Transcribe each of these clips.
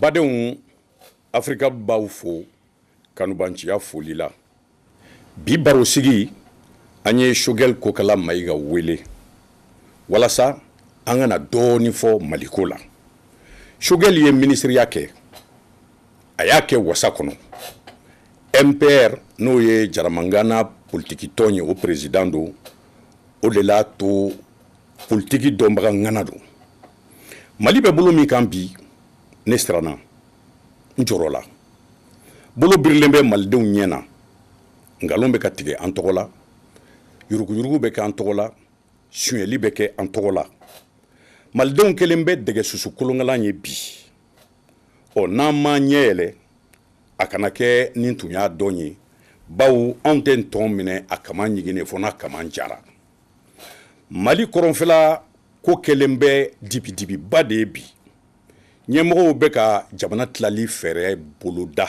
Badenw Afrika b'aw fo kanubanciya foli la. Bi barosigi, an ye Choguel Kokala Mayiga wele walasa an ka na dɔɔni fɔ Mali ko la. Choguel ye minisiriya kɛ, a y'a kɛ wasa kɔnɔ. MPR n'o ye Jaramangana politikitɔn ye, o president don, o de l'a to politiki dɔnbaga ŋana don. mali bɛ bolo min kan bi ne siranna n jɔrɔla bolo birilen bɛ malidenw ɲɛ na nkalon bɛ ka tigɛ an tɔgɔ la yuruguyurugu bɛ kɛ an tɔgɔ la suyɛli bɛ kɛ an tɔgɔ la malidenw kɛlen bɛ dɛgɛ susu kolonkalan ye bi ɔ n'an m'an ɲɛ yɛlɛ a kana kɛ ni n tun y'a dɔn ye bawo anw tɛ ntɔn minɛ a kaman ɲiginnen fo n'a kaman jara mali kɔrɔnfɛla ko kɛlen bɛ dibidibiba de ye bi ɲɛmɔgɔw bɛ ka jamana tilali fɛɛrɛ boloda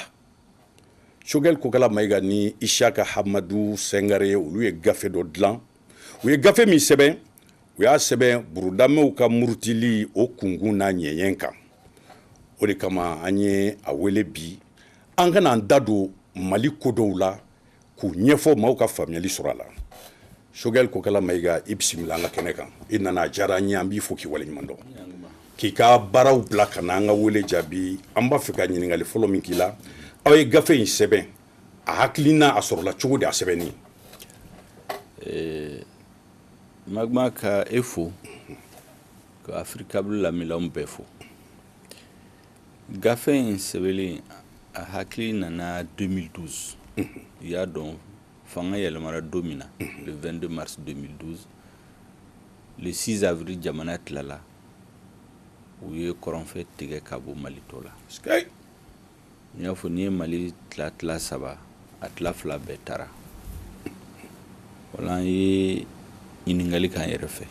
choguel kokala mayiga ni isiyaka hamadu singare olu ye gafe dɔ dilan u ye gafe min sɛbɛn u y'a sɛbɛn burudamew ka murutili o kunkun n'a ɲɛɲɛ kan o de kama an ye a wele bi an ka na an da don mali ko dɔw la k'u ɲɛfɔ maaw ka faamuyali sɔrɔ a la choguel kokala mayiga i bisimila an ka kɛnɛ kan i nana a diyara an ye an b'i fo k'i waleɲuman dɔn k'i ka baaraw bila ka na an ka wele jaabi an b'a fɛ ka ɲininkali fɔlɔ min k'i la aw ye gafe in sɛbɛn a hakilina a sɔrɔla cogo di a sɛbɛnni magma ka e fo ka africable lamɛnnaw bɛɛ fo gafe in sɛbɛnlen a hakili nana 2012 i y'a dɔn fanga yɛlɛmara don min na le 22 mars 2012 le 6 avril jamana tilala u ye kɔrɔnfɛ tigɛ ka bɔ mali tɔ la n y'a fɔ n'i ye mali tila tila saba a tila fila bɛɛ taara o la an ye ɲininkali k'an yɛrɛ fɛ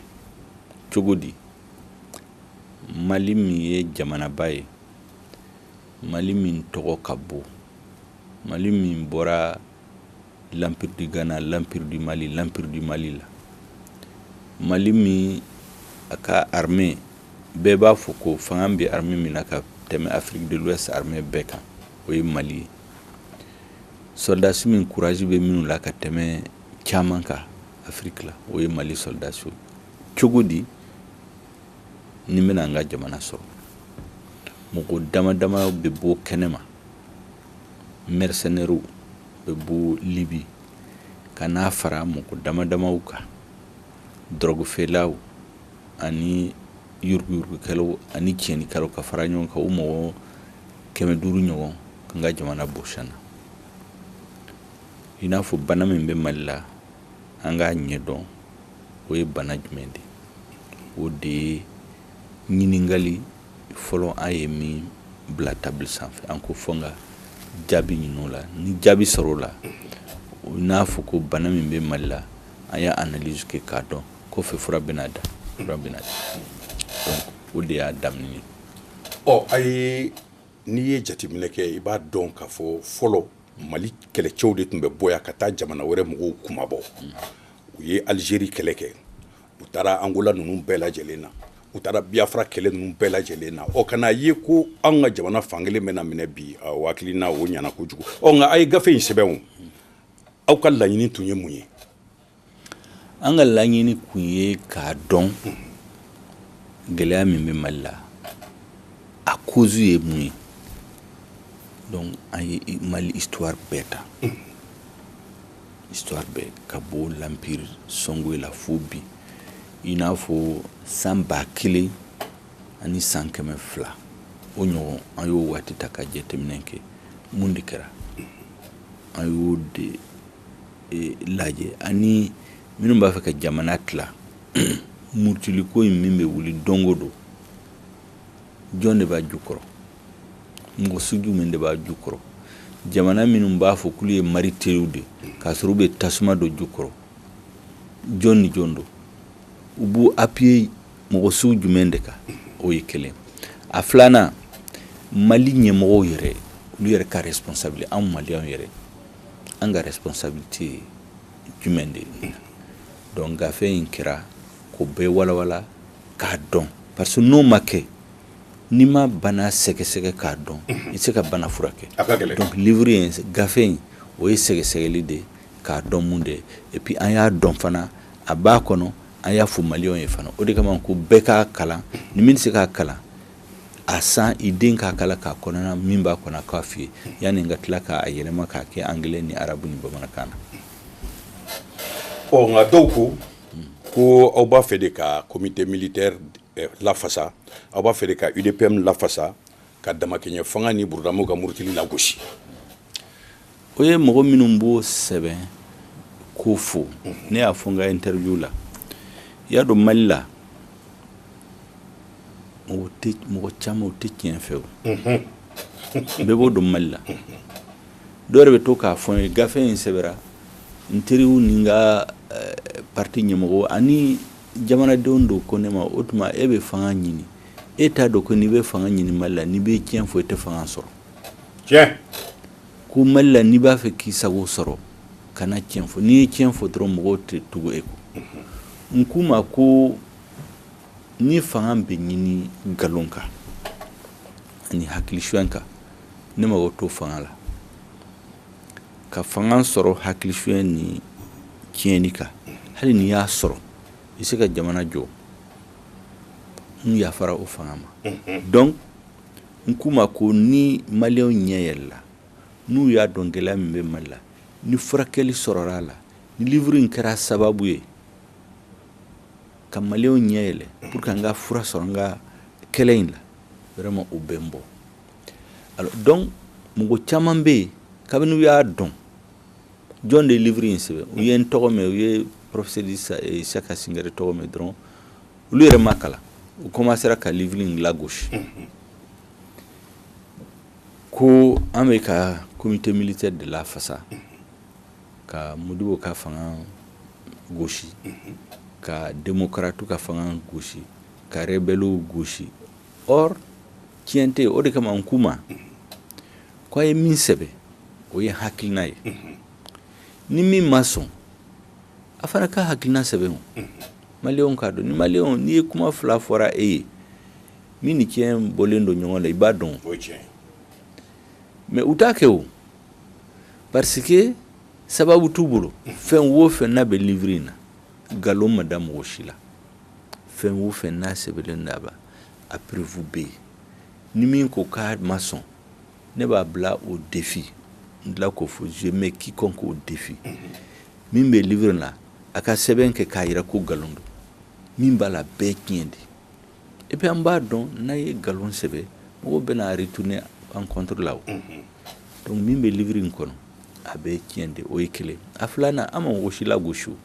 cogo di mali min ye jamanaba ye mali min tɔgɔ ka bon mali min bɔra l'empire du ghana l'empire du mali l'empire du mali la mali min a ka armée bɛɛ b'a fɔ ko fanga bɛ armée min na ka tɛmɛ afrique de l'ouest armée bɛɛ kan o ye mali ye sɔrɔdasi min kuraji bɛ minnu la ka tɛmɛ caman kan afiriki la o ye mali sɔrɔdasi cogo di nin bɛna an ka jamana sɔrɔ mɔgɔ dama dama bɛ bɔ kɛnɛ ma mɛrisɛnɛriw bɛ bɔ libi ka na fara mɔgɔ dama damaw kan dɔrɔgufeerelaw ani yuruguyurugukɛlaw ani tiɲɛnikɛlaw ka fara ɲɔgɔn kan u mɔgɔ kɛmɛ duuru ɲɔgɔn k'an ka jamana bɔsi an na i n'a fɔ bana min bɛ mali la an k'a ɲɛdɔn o ye bana jumɛn de o de ye ɲininkali fɔlɔ an ye min bila tabili sanfɛ an ko fo an ka jaabi ɲini o la ni jaabi sɔrɔla i n'a fɔ ko bana min bɛ mali la an y'a analyse kɛ k'a dɔn kɔfɛ fura bɛna da donc o de y'a daminɛ ye ɔ a ye n'i ye jateminɛ kɛ i b'a dɔn k'a fɔ fɔlɔ mali kɛlɛcɛw de tun bɛ bɔ yan ka taa jamana wɛrɛ mɔgɔw kunmabɔ u ye alizeri kɛlɛ kɛ u taara angola ninnu bɛɛ lajɛlen na u taara biyafara kɛlɛ ninnu bɛɛ lajɛlen na ɔ ka na a ye ko an ka jamana fankelen bɛna minɛ bi aw hakilina o ɲɛna kojugu ɔ nka a ye gafe in sɛbɛn aw ka laɲini tun ye mun ye an ka laɲini kun ye k'a dɔn gɛlɛya min bɛ mali la a kozu ye mun ye dɔnku an ye mali histoire bɛɛ ta histoire bɛɛ ka bɔ l'empire sɔngɔyi la fo bi i n'a fɔ san ba kelen ani san kɛmɛ fila o ɲɔgɔn an y'o waati ta ka jateminɛ kɛ mun de kɛra an y'o de lajɛ ani minnu b'a fɛ ka jamana tila murutiliko in min bɛ wuli don o don jɔn de b'a jukɔrɔ mɔgɔ sugu min de b'a jukɔrɔ jamana minnu b'a fɔ k'olu ye mari teriw de k'a sɔrɔ u bɛ tasuma don jukɔrɔ jɔn ni jɔn don u b'u apiye mɔgɔ sugu jumɛn de kan o ye kelen a filanan mali ɲɛmɔgɔw yɛrɛ olu yɛrɛ ka responsabilité anw maliyɛnw yɛrɛ an ka responsabilité ye jumɛn de ye donc gafe in kɛra k'o bɛɛ walawala k'a dɔn parce que n'o ma kɛ n'i ma bana sɛgɛsɛgɛ k'a dɔn i tɛ se ka bana furakɛ donc livre in gafe in o ye sɛgɛsɛgɛli de ye k'a dɔn mun de ye et puis an y'a dɔn fana a b'a kɔnɔ an y'a fɔ maliyɛnw ye fana o de kama ko bɛɛ k'a kalan ni min tɛ se k'a kalan a san i den k'a kalan k'a kɔnɔna min b'a kɔnɔ k'a f'i ye yanni n ka tila k'a yɛlɛma k'a kɛ angilɛ ni arabu ni bamanankan na ɔ nka dɔw ko ko aw b'a fɛ de ka comité militaire eh, lafasa aw b'a fɛ de ka udpm lafasa ka damakɛɲɛ fanga ni burudamu ka murutili lagosi o ye mɔgɔ minnu b'o sɛbɛn k'o fɔ ne y'a fɔ n ka interview la i y'a dɔn mali la mɔgɔ tɛ mɔgɔ caman o tɛ tiɲɛ fɛ o bɛɛ b'o dɔn mali la dɔw yɛrɛ bɛ to k'a fɔ n ye gafe in sɛbɛra n teriw ni n ka eh, parti ɲɛmɔgɔ ani jamanadenw don ko ne ma o tuma e bɛ fanga ɲini e t'a dɔn ko n'i bɛ fanga ɲini mali la n'i bɛ tiɲɛ fɔ i tɛ fanga sɔrɔ ko mali la n'i b'a fɛ k'i sago sɔrɔ kana cɛn fɔ n'i ye cɛn fɔ dɔrɔn mɔgɔw tɛ tugu e kɔ n k'u ma ko ni fanga bɛ ɲini nkalon kan ani hakilifiyɛn kan ne mago t'o fanga la ka fanga sɔrɔ hakilifiyɛn ni tiɲɛni kan hali n'i y'a sɔrɔ i se ka jamana jɔ n yafara o fanga ma donc n k'u ma ko ni maliyɛnw ɲɛ yɛlɛla n'u y'a dɔn gɛlɛya min bɛ mali la ni furakɛli sɔrɔla a la ni livre in kɛra sababu ye ka maliyɛnw ɲɛ yɛlɛ pour que an ka fura sɔrɔ an ka kɛlɛ in la vraiment o bɛ n bɔ alors donc mɔgɔ caman bɛ yen kabini u y'a dɔn jɔn de ye livre in sɛbɛn u ye n tɔgɔ mɛn u ye professeur issiaka singare tɔgɔ mɛn dɔrɔn olu yɛrɛ m'a kalan u komansera ka livre in lagosi ko an bɛ ka comité militaire de lafasa ka modibo ka fanga gosi ka démocratew ka fanga gosi ka rebellew gosi or tiɲɛ tɛ o de kama n k'u ma ko a ye min sɛbɛn o ye hakilina ye ni min ma sɔn a fana ka hakilina sɛbɛn o maliyɛnw k'a dɔn ni mali n'i ye kuma fila fɔra e ye min ni cɛn bɔlen don ɲɔgɔn la i b'a dɔn mais u t'a kɛ o parce que sababu t'u bolo fɛn wo fɛn n'a bɛ livre in na nkalon ma da mɔgɔ si la fɛn wo fɛn n'a sɛbɛnlen don a la a preuve bɛ yen ni min ko k'a ma sɔn ne b'a bila au défi n tila k'o fɔ je mets quiconque au défi min bɛ livre la a ka sɛbɛn kɛ k'a jira ko nkalon don min b'a la bɛɛ tiɲɛ de et puis an b'a dɔn n'an ye nkalon sɛbɛn mɔgɔw bɛna retourner an contre la o donc min bɛ livre in kɔnɔ a bɛɛ tiɲɛ de o ye kelen a filanan an ma mɔgɔ si lagosi o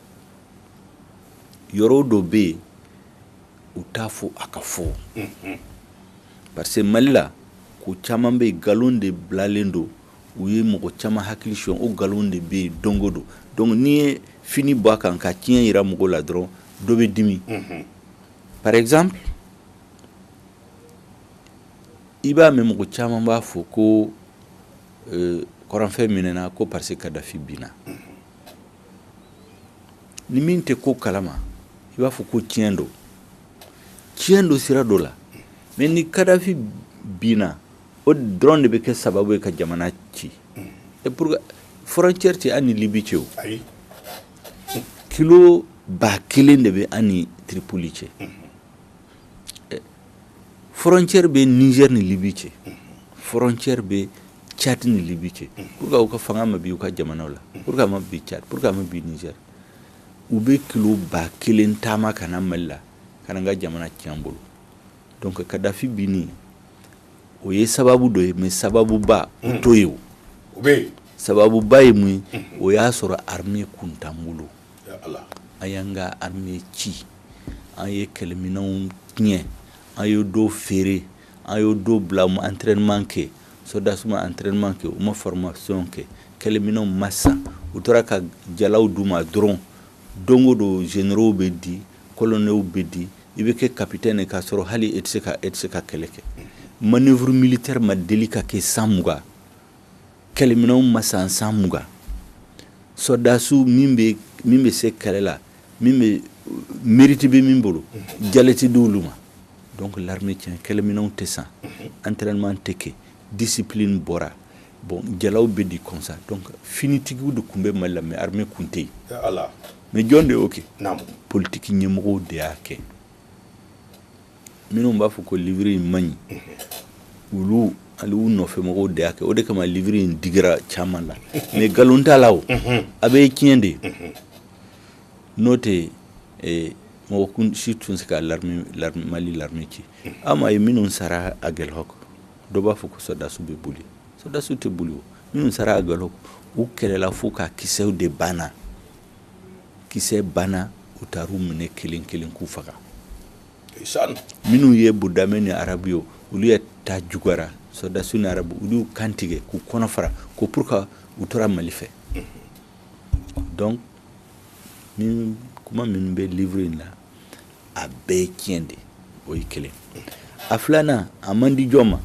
yɔrɔ dɔ bɛ yen u t'a fɔ a ka fɔ parce que mali la ko caman bɛ yen nkalon de bilalen don u ye mɔgɔ caman hakili sɔn o nkalon de bɛ yen don o don donc n'i ye fini bɔ a kan ka tiɲɛ jira mɔgɔw la dɔrɔn dɔ bɛ dimi par exemple i b'a mɛn mɔgɔ caman b'a fɔ ko kɔrɔnfɛ minɛna ko parce que kadafi binna ni min tɛ ko kalama i b'a fɔ ko tiɲɛ don tiɲɛ don sira dɔ la mais ni kadafi binna o dɔrɔn de bɛ kɛ sababu ye ka jamana ci et pour frontière tɛ an ni libi cɛ o kilo ba kelen de bɛ an ni tiripoli cɛ frontière bɛ nizɛri ni libi cɛ frontière bɛ cadi ni libi cɛ pourquoi u ka fanga ma bin u ka jamanaw la pourquoi a ma bin cadi pourquoi a ma bin nizɛri u bɛ kilo ba kelen taama ka na mali la ka na an ka jamana tiɲɛ bolo donc kadafi bin o ye sababu dɔ ye mais sababuba o t'o ye o sababuba ye mun ye o y'a sɔrɔ armée kun t'an bolo an y'an ka armée ci an ye kɛlɛminɛnw tiɲɛ an ye dɔw feere An ye dɔw bila u ma entraînement kɛ soldats ma entraînement kɛ u ma formation kɛ kɛlɛminɛnw ma san u tora ka jalaw d'u ma dɔrɔn don o don généraux bɛ di colonels bɛ di i bɛ kɛ capitaine ye k'a sɔrɔ hali e tɛ se ka e tɛ se ka kɛlɛ kɛ manoeuvre militaire ma deli ka kɛ san mugan kɛlɛminɛnw ma san san mugan sɔrɔdasiw min bɛ min bɛ se kɛlɛ la min bɛ mérite bɛ min bolo jala tɛ di olu ma donc l'armée tiɲɛ kɛlɛminɛnw tɛ san entraînement tɛ kɛ discipline bɔra bon jalaw bɛ di comme ça donc finitigiw de tun bɛ mali la mais armée kun tɛ yen mais jɔn de y'o kɛ politique ɲɛmɔgɔw de y'a kɛ minnu b'a fɔ ko livre in man ɲi olu ani u nɔfɛmɔgɔw de y'a kɛ o de kama livre in digira caman la mais nkalon t'a la o a bɛɛ tiɲɛ de n'o tɛ eh, mɔgɔ kun si tun tɛ se ka l'armée l'armée mali l'armée ci aw m'a ye minnu sara aguelhok dɔ b'a fɔ ko sɔrɔdasiw bɛ boli sɔrɔdasiw tɛ boli o minnu sara aguelhok u kɛlɛla fo ka kisɛw de banna kisɛ banna u taara u minɛ kelen kelen k'u faga minnu ye burudamɛ ni arabu ye olu ye ta juguyara sɔrɔdasi ni arabu olu kan tigɛ k'u kɔnɔ fara ko pourquoi u tora mali fɛ donc kuma minnu bɛ livre in na a bɛɛ ye tiɲɛ de o ye kelen a filanan a man di jɔn ma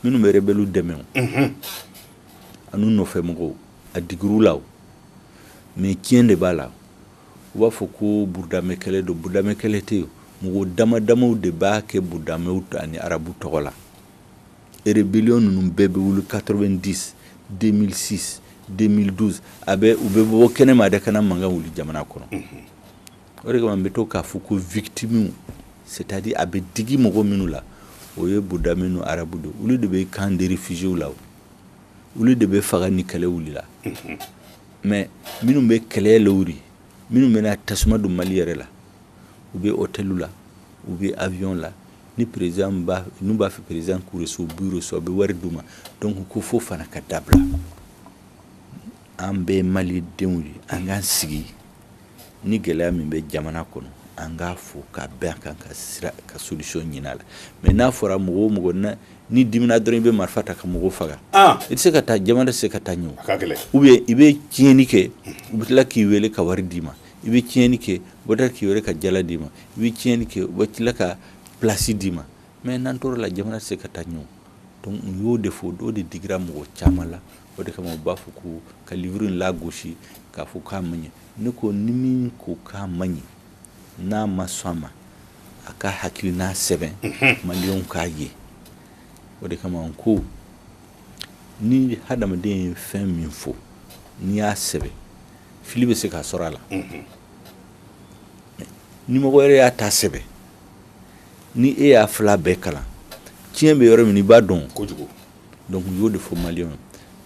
minnu bɛ rebelles dɛmɛ an'u nɔfɛmɔgɔw a digir'u la mais tiɲɛ de b'a la u b'a fɔ ko budamɛ kɛlɛ don budamɛ kɛlɛ tɛ yen mɔgɔ damadamaw de b'a kɛ budamɛw ani arabu tɔgɔ la rébellion ninnu bɛɛ bɛ wuli quatre-vingt-dix deux mille six deux mille douze u bɛ bɔ kɛnɛma de ka na mankan wuli jamana kɔnɔ o de bɛ to k'a fɔ ko victimes c'est-à-dire a bɛ digi mɔgɔ minnu la o ye budamɛ ni arabu de olu de bɛ camp de réfugiés la olu de bɛ faga ni kɛlɛ wulila mais minnu bɛ kɛlɛ lawuli minnu bɛna tasuma don mali yɛrɛ la u bɛ hôtel la u bɛ avion la ni président n'u b'a fɛ président k'u reçu u b'u reçu a bɛ wari d'u ma donc o fo fana ka dabila an bɛɛ malidenw ye an k'an sigi ni gɛlɛya min bɛ jamana kɔnɔ an k'a fɔ ka bɛn a kan ka sira ka solution ɲini a la mais n'a fɔra mɔgɔ o mɔgɔ ni dimina dɔrɔn i bɛ marifa ta ka mɔgɔw faga i tɛ se ka taa jamana tɛ se ka taa ɲɛ ou bien i bɛ tiɲɛni kɛ u bɛ tila k'i weele ka wari d'i ma i bɛ tiɲɛni kɛ u bɛ tila k'i weele ka jala d'i ma i bɛ tiɲɛni kɛ u bɛ tila ka place d'i ma Mais n'an tor'a la jamana tɛ se ka taa ɲɛ donc n y'o de fɔ o de digira mɔgɔ caman la o de kama u b'a fɔ ko ka livre in lagosi k'a fɔ k'a man ɲi ne ko ni min ko k'a man ɲi n'a ma sɔn a ma a ka hakilina sɛbɛn maliyɛnw k'a ye o de kama ko ni hadamaden ye fɛn min fɔ n'i y'a sɛbɛn fili bɛ se k'a sɔrɔ a la ni mɔgɔ wɛrɛ y'a ta sɛbɛn Ni e y'a fila bɛɛ kalan tiɲɛ bɛ yɔrɔ min i b'a dɔn kojugu donc n y'o de fɔ maliyɛnw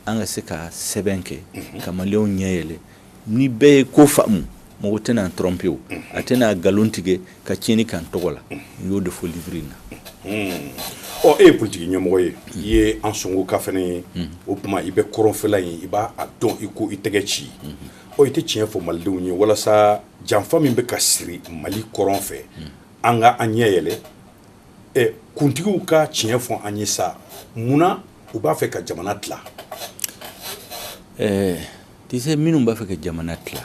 an ka se ka sɛbɛn kɛ ka maliyɛnw ɲɛ yɛlɛ ni bɛɛ ye ko faamu mɔgɔ tɛna n'an tromper a tɛna na nkalon tigɛ ka tiɲɛni k'an tɔgɔ la n y'o de fɔ livre in na ɔ e ye politique ɲɛmɔgɔ ye i ye ansongoka fana ye o tuma i bɛ kɔrɔnfɛla in i b'a dɔn i ko i tɛgɛ ci o i tɛ tiɲɛ fɔ malidenw ye walasa janfa min bɛ ka siri mali kɔrɔn fɛ an ka an ɲɛ yɛlɛ ɛ kuntigiw ka tiɲɛ fɔ an ye sa mun na u b'a fɛ ka jamana tila ɛɛ tu sais minnu b'a fɛ ka jamana tila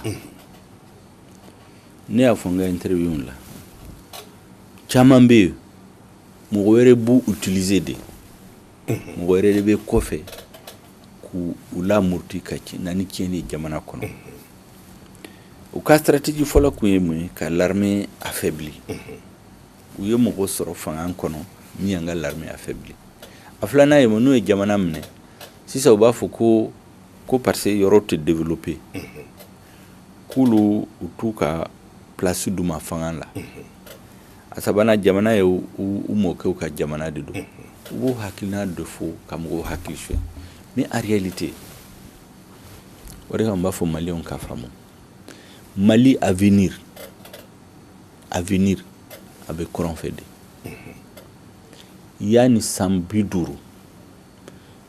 ne y'a fɔ n ka interview la caman bɛ yen mɔgɔ wɛrɛ b'u utiliser de mɔgɔ wɛrɛ de bɛ kɔfɛ k'u lamurti ka na ni tiɲɛni ye jamana kɔnɔ u ka stratégie fɔlɔ kun ye mun ye ka l'armée affaibli u ye mɔgɔ sɔrɔ fanga kɔnɔ min y'an ka l'armée affaibli a filanan ye mun n'u ye jamana minɛ sisan u b'a fɔ ko ko parce que yɔrɔ tɛ développer k'olu u t'u ka place d'u ma fanga la a sabanan jamana ye u mɔkɛw ka jamana de don u b'u hakilina de fɔ ka mɔgɔw hakili suɲɛ mais en réalité o de kama n b'a fɔ maliyɛnw k'a faamu mali avenir avenir a bɛ kɔrɔn fɛ de yan ni san bi duuru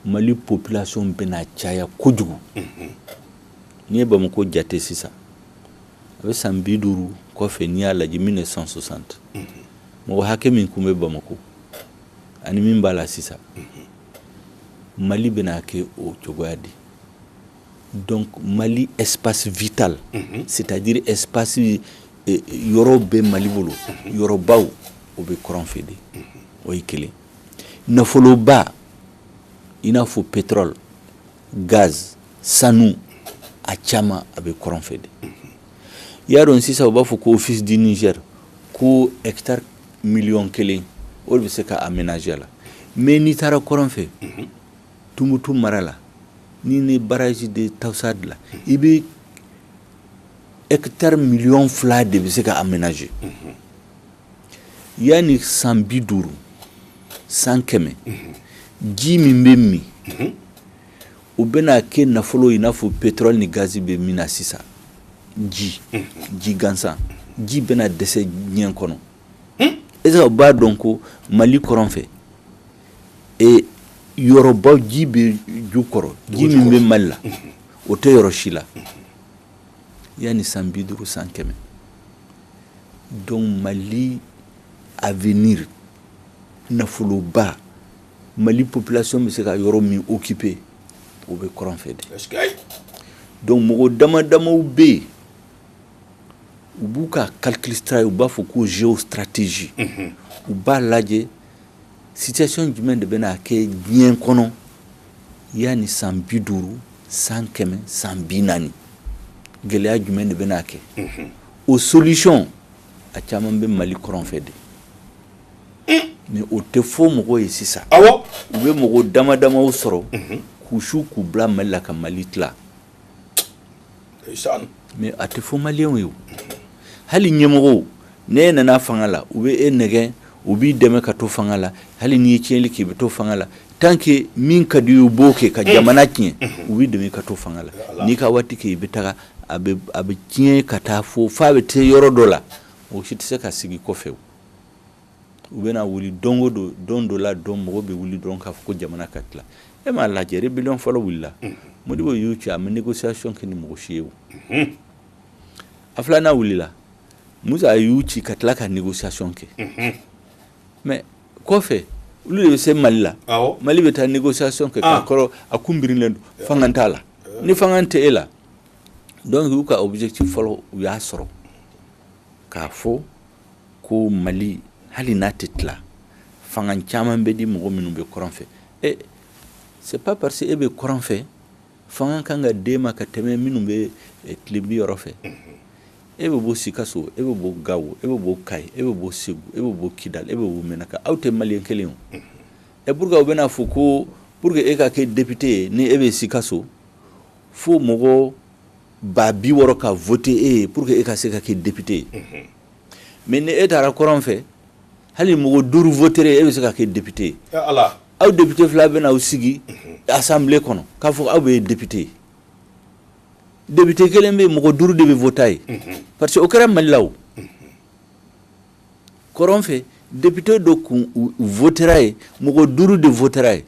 mali population bɛna caya kojugu n'i ye bamakɔ jate sisan a bɛ san bi duuru kɔfɛ n'i y'a lajɛ mille neuf cent soixante mɔgɔ hakɛ min kun bɛ bamakɔ ani min b'a la sisan mali bɛna kɛ o cogoya de donc mali espace vital c'est-à-dire espace yɔrɔ bɛ mali bolo yɔrɔbaw o bɛ kɔrɔn fɛ de o ye kelen nafoloba i n'a fɔ pétrole gaz sanu a caman a bɛ kɔrɔn fɛ de i y'a dɔn sisan u b'a fɔ ko office du Niger ko hectare miliyɔn kelen o bɛ se ka aménager la mais n'i taara kɔrɔn fɛ tumutu mara la ni ne barrage de Taoussa dilan i bɛ hectare miliyɔn fila de bɛ se ka aménager yan ni san bi duuru san kɛmɛ ji min bɛ min o bɛna kɛ nafolo i n'a fɔ pétrole ni gaz bɛ min na sisan ji ji gansan ji bɛna dɛsɛ diɲɛ kɔnɔ est-ce que u b'a dɔn ko mali kɔrɔn fɛ e yɔrɔbaw ji bɛ jukɔrɔ ji min bɛ mali la o tɛ yɔrɔ si la yan ni san bi duuru san kɛmɛ donc mali avenir nafoloba mali population bɛ se ka yɔrɔ min occuper o bɛ kɔrɔn fɛ de donc mɔgɔ dama damaw bɛ yen u b'u ka calcul stra u b'a fɔ ko géostratégie u b'a lajɛ situation jumɛn de bɛna kɛ diɲɛ kɔnɔ yan ni san bi duuru san kɛmɛ san bi naani gɛlɛya jumɛn de bɛna kɛ o solution a caman bɛ Mali kɔrɔn fɛ de, un, mais o tɛ fɔ mɔgɔw ye sisan, awɔ, u bɛ mɔgɔ dama damaw sɔrɔ, unhun, k'u su k'u bila Mali la ka Mali tila, ndeysaan, mais a tɛ fɔ maliyɛnw ye, hali ɲɛmɔgɔw n'e nana fanga la u bɛ e nɛgɛn u b'i dɛmɛ ka to fanga la hali n'i ye tiɲɛli kɛ i bɛ to fanga la tant que min ka d'i ye u b'o kɛ ka jamana tiɲɛ u b'i dɛmɛ i ka to fanga la n'i ka waati kɛ i bɛ taga a bɛ tiɲɛ ka taa fo fo a bɛ taa yɔrɔ dɔ la mɔgɔ si tɛ se ka segin kɔfɛ u bɛna wuli donc don don dɔ la dɔn mɔgɔ bɛ wuli dɔrɔn k'a fɔ ko jamana ka tila e m'a lajɛ rébellion fɔlɔ wulila modibo y'u ci a ma négociation kɛ ni mɔgɔ si ye o a filanan wulila musa y'u ci ka tila ka négociation kɛ mais kɔfɛ olu de bɛ se mali la mali bɛ taa négociation kɛ k'a sɔrɔ a kun birilen don fanga t'a la ni fanga tɛ e la donc y'u ka objectif fɔlɔ u y'a sɔrɔ k'a fɔ ko mali hali n'a tɛ tila fanga caman bɛ di mɔgɔ minnu bɛ kɔrɔn fɛ e c'est pas parce que e bɛ kɔrɔn fɛ fanga kan ka d'e ma ka tɛmɛ minnu bɛ eh, tilebi yɔrɔ fɛ e bɛ bɔ sikaso e bɛ bɔ gawo e bɛ bɔ kayi e bɛ bɔ segu e bɛ bɔ kidal e bɛ bɔ menaka aw tɛ maliyɛn kelen o ɛ pourquoi u bɛna fɔ ko pour que e ka kɛ depite ye ni e bɛ sikaso fo mɔgɔ ba bi wɔɔrɔ ka vote e ye pour que e ka se ka kɛ depite ye mais ni e taara kɔrɔn fɛ hali mɔgɔ duuru votera e bɛ se ka kɛ depite ye aw depite fila bɛna aw sigi assemblée kɔnɔ k'a fɔ aw bɛɛ depite ye depite kelen bɛ mɔgɔ duuru de bɛ vote a ye parce que o kɛra mali la o kɔrɔn fɛ depite dɔ kun votera ye mɔgɔ duuru de votera ye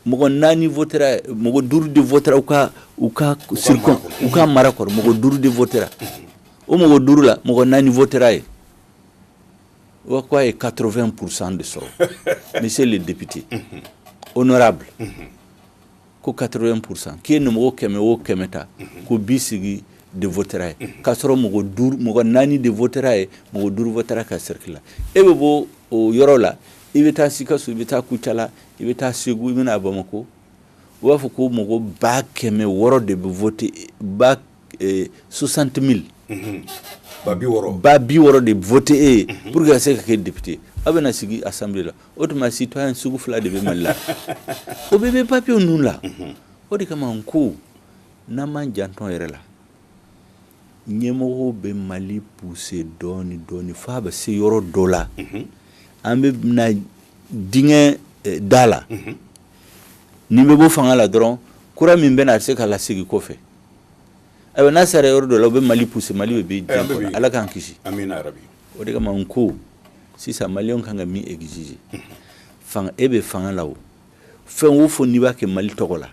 mɔgɔ naani mɔgɔ duuru de votera u ka u ka cercle u ka mara kɔrɔ mɔgɔ duuru de votera o mɔgɔ duuru la mɔgɔ naani votera ye O k'a ye quatre-vingts pour cent de sɔrɔ monsieur le député honorable ko quatre-vingts pour cent k'i ye nin mɔgɔ kɛmɛ o kɛmɛ ta ko bi segin de votera ye k'a sɔrɔ mɔgɔ naani de votera ye mɔgɔ duuru votera a ka cercle la e bɛ bɔ o yɔrɔ la i bɛ taa sikaso i bɛ taa kucala i bɛ taa segu i bɛ na bamakɔ u b'a fɔ ko mɔgɔ ba kɛmɛ wɔɔrɔ de bɛ vote soixante mille ba bi wɔɔrɔ de vote e pour que se ka kɛ depite aw bɛna sigi assemblée la o tuma citoyen sugu fila de bɛ mali la o bɛɛ bɛ papiye ninnu la o de kama n ko n'an m'an janto an yɛrɛ la ɲɛmɔgɔw bɛ mali pousser dɔɔnini dɔɔnini fo a bɛ se yɔrɔ dɔ la an bɛ na dingɛ da la nin bɛ bɔ fanga la dɔrɔn kura min bɛ na a bɛ se k'a lasegin kɔfɛ Ayiwa n'a sera yɔrɔ dɔ la u bɛ mali pousser mali bɛ bin ala k'an kisi o de kama n ko sisan maliyɛnw kan ka min exiger e bɛ fanga la o fɛn o fɛn n'i b'a kɛ mali tɔgɔ la